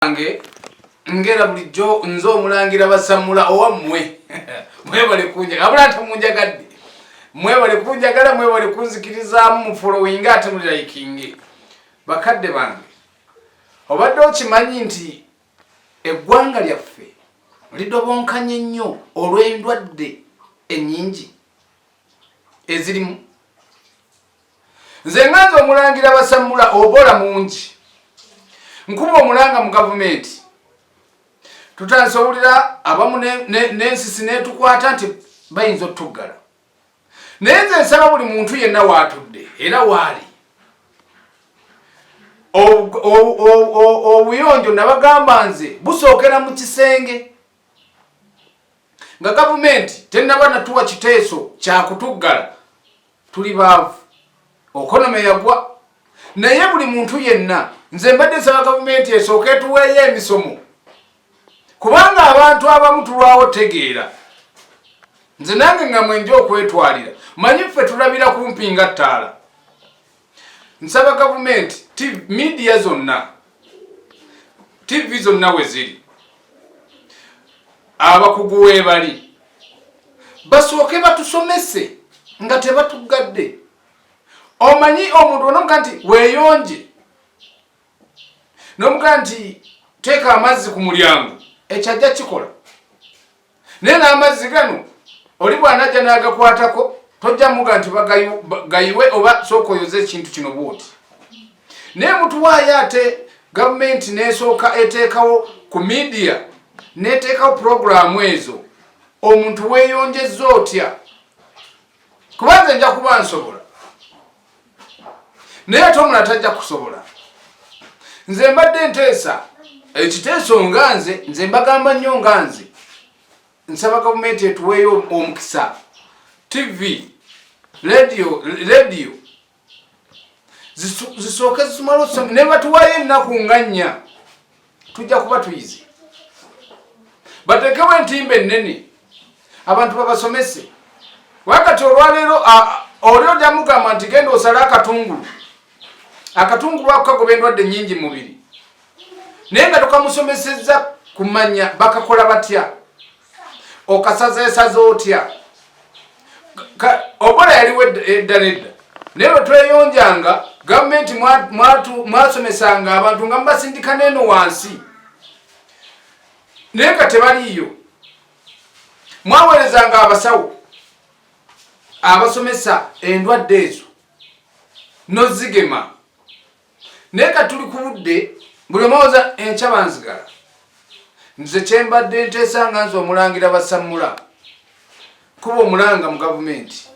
banange ngera bulijjo nze omulangira basamula owammwe mwebale kunja abula ate munjagadde mwebale kunjagala mwebale kunzikirizaamu mufolowinge ate mulirayikinge bakadde bange obadde okimanyi nti eggwanga lyaffe lidobonkanye nnyo olw'endwadde ennyingi ezirimu nze nga nze omulangira basamula obola mungi nkuba omulanga mu gavumenti tutandise owulira abamu n'ensisi netukwata nti bayinza otutuggala naye nze nsaba buli muntu yenna waatudde era waali obuyonjo nabagamba nze busookera mu kisenge nga gavumenti tennaba natuwa kiteeso kyakutuggala tuli baavu okonome yagwa naye buli muntu yenna nze mbadde nsaba gavumenti esooka etuweeyo emisomo kubanga abantu abamu tulwawo tegeera nze nange nga mwenja okwetwalira manyi ffe tulabira kumpi nga ttaala nsaba gavumenti midiya zonna tivi zonna we ziri abakugu webali basooke batusomese nga tebatugadde omanyi omuntu onomuga nti weyonje nomuga nti teeka amazzi ku mulyango ekyajja kikola naye n'amazzi gano oli bw'anajja n'agakwatako tojja muga nti bagayiwe oba sooka oyoze ekintu kino bwoti naye mutuwaayo ate gavumenti n'esooka eteekawo ku midiya n'eteekawo puroguraamu ezo omuntu weeyonjezza otya kubanze nja kuba nsobola naye ate omulala tajja kusobola nze mbadde nteesa ekiteeso nga nze nze mbagamba nnyo nga nze nsaba gavumenti etuweeyo omukisa tv radio radio zisooke zisumala okusoma nebatuwayo ennaku nga nnya tujja kuba tuyize batekewo entimba ennene abantu babasomese wakati olwaleero oli oja mugamba nti genda osale akatungulu akatungulu ako kagoba endwadde nyingi mubiri naye nga tokamusomeseza kumanya bakakola batya okasazeesaza otya obola yaliwo edda nedda naye bwetweyonjanga gavumenti mwasomesanga abantu nga mubasindika neeno wansi naye nga tebaliiyo mwaweerezanga abasawo abasomesa endwadde ezo nozigema naye ka tuli ku budde buli omwoza enkya banzigala nze kyembadde nteesa nga nze omulangira basammula kuba omulanga mu gavumenti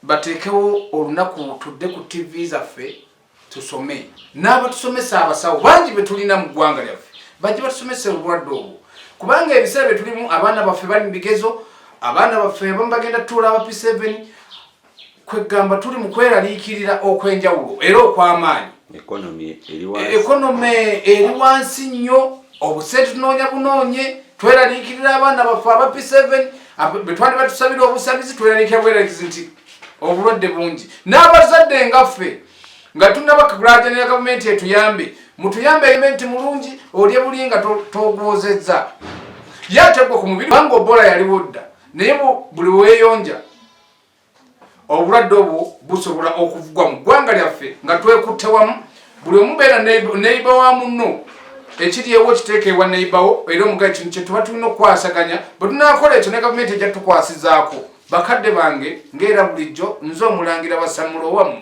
bateekewo olunaku tudde ku tv zaffe tusome n'abatusomesa abasawo bangi betulina mu ggwanga lyaffe bajje batusomesa obulwadde obwo kubanga ebiseera byetulimu abaana baffe bali mu bigezo abaana baffe abamu bagenda tuula abapi 7 kweggamba tuli mu kweraliikirira okw'enjawulo era okw'amaanyi ekonome eri wansi nnyo obuse tunoonya bunoonye tweraliikirira abaana baffe aba p7 bwe twali batusabira obusabizi tweraliikira bweralikizi nti obulwadde bungi n'abazadde nga ffe nga tunaba kagulajanira gavumenti etuyambe mutuyambe elementi mulungi olye buli nga togwozezza yategwa ku mubiri kubanga obola yaliwo dda naye buli weyonja obulwadde obwo busobola okuvugwa mu ggwanga lyaffe nga twekutte wamu buli omubeera neiba wa munno ekiryewo kiteeka ewa neibawo era omugaye kino kyetuba tulina okukwasaganya bwe tunakola ekyo ne gavumenti ejja tukwasizaako bakadde bange ngaera bulijjo nze omulangira basamula owammwe